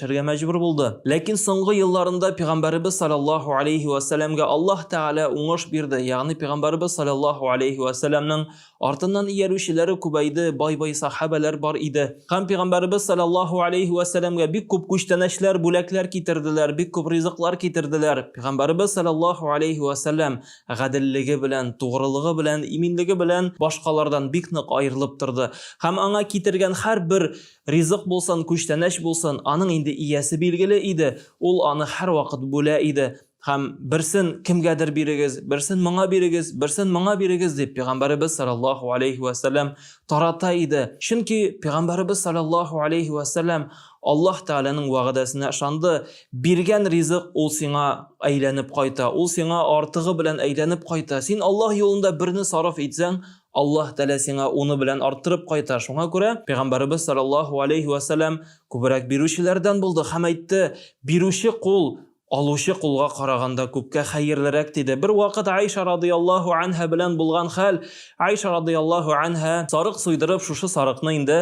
Эшләргә мәҗбүр булды. Ләкин соңгы елларында пигамбәребез салләллаһу алейһи вә сәләмгә Аллаһ Тәгалә уңыш бирде, ягъни пигамбәребез салләллаһу алейһи вә сәләмнең артыннан иярүчеләре күбәйде, бай-бай сахабәләр бар иде. Һәм пигамбәребез салләллаһу алейһи вә сәләмгә бик күп күчтәнәчләр, бүләкләр китерделәр, бик күп ризыклар китерделәр. Пигамбәребез салләллаһу алейһи вә сәләм гаделлеге белән, тугрылыгы белән, иминлеге белән башкалардан бик нык аерылып торды. Һәм аңа китергән һәрбер Ризык булсын, күчтәнәч булсын, аның инде иясе билгеле иде, ул аны һәрвакыт бүлә иде. Һәм, Берсен кемгәдер бирегез, берсен моңа бирегез, берсен моңа бирегез, дип, пигамбәребез салләллаһу галәйһи вә сәлләм тарата иде. Чөнки пигамбәребез салләллаһу галәйһи вә сәлләм Аллаһ Тәгаләнең вәгъдәсенә ышанды, Биргән ризык ул сиңа әйләнеп кайта, ул сиңа артыгы белән әйләнеп кайта. Син Аллаһ юлында берне сарыф итсәң, Аллаһ Тәгалә сиңа уны белән арттырып кайта, шуңа күрә Пәйгамбәребез салләллаһу галәйһи вә сәлләм күбрәк бирүчеләрдән булды һәм әйтте, Бирүче кул, алучы кулга караганда күпкә хәерлерәк, диде. Бервакыт Гайшә радыяллаһу анһа белән булган хәл, Гайшә радыяллаһу анһа сарык суйдырып, шушы сарыкны инде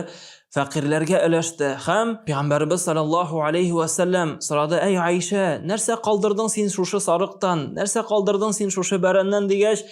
фәкыйрьләргә өләште һәм Пәйгамбәребез салләллаһу галәйһи вә сәлләм сорады, Әй Гайшә, нәрсә калдырдың син шушы сарыктан, нәрсә калдырдың син шушы бәрәннән, дигәч,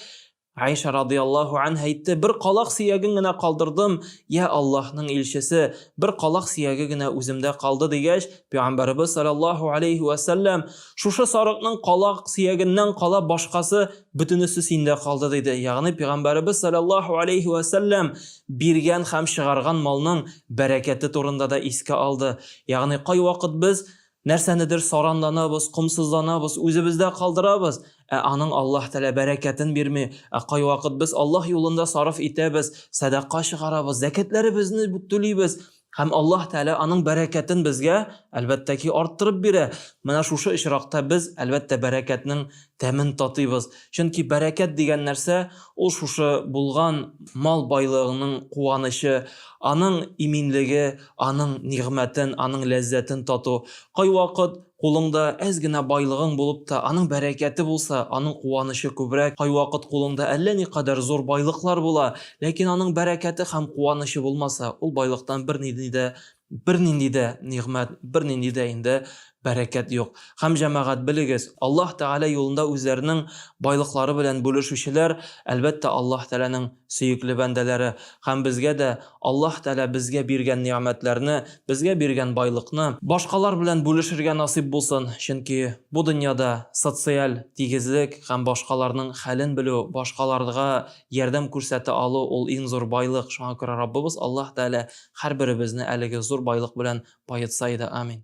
Гайшә радыяллаһу анһа әйтте, Бер калак сөяген генә калдырдым, йә Аллаһның илчесе, бер калак сөяге генә үземдә калды, дигәч, Пәйгамбәребез салләллаһу галәйһи вә сәлләм, Шушы сарыкның калак сөягеннән кала башкасы, бөтенесе синдә калды, диде. Ягъни Пәйгамбәребез салләллаһу галәйһи вә сәлләм биргән һәм чыгарган малның бәрәкәте турында да искә алды. Ягъни кайвакыт без Нәрсәнедер саранланабыз, комсызланабыз, үзебездә калдырабыз, ә аның Аллаһ Тәгалә бәрәкәтен бирми. Ә кайвакыт без Аллаһ юлында сарыф итәбез, сәдака чыгарабыз, зәкятләребезне түлибез һәм Аллаһ Тәгалә аның бәрәкәтен безгә, әлбәттә ки, арттырып бирә. Менә шушы очракта без, әлбәттә, бәрәкәтнең тәмен татыйбыз. Чөнки бәрәкәт дигән нәрсә, ул шушы булган мал байлыгыңның куанычы, аның иминлеге, аның нигъмәтен, аның ләззәтен тату. Кайвакыт кулыңда әз генә байлыгың булып та, аның бәрәкәте булса, аның куанычы күбрәк. Кайвакыт кулыңда әллә никадәр зур байлыклар була, ләкин аның бәрәкәте һәм куанычы булмаса, ул байлыктан бернинди дә Бернинди дә нигъмәт, бернинди дә инде бәрәкәт юк. Һәм, җәмәгать, белегез, Аллаһ Тәгалә юлында үзләренең байлыклары белән бүлешүчеләр, әлбәттә, Аллаһ Тәгаләнең сөекле бәндәләре. Һәм безгә дә Аллаһ Тәгалә безгә биргән нигъмәтләрне, безгә биргән байлыкны, башкалар белән бүлешергә насыйп булсын, чөнки бу дөньяда социаль тигезлек һәм башкаларның хәлен белү, башкаларга Ярдәм күрсәтә алу, ул иң зур байлык, шуңа күрә Раббыбыз Аллаһ Тәгалә һәрберебезне әлеге зур байлык белән баетса иде. Амин.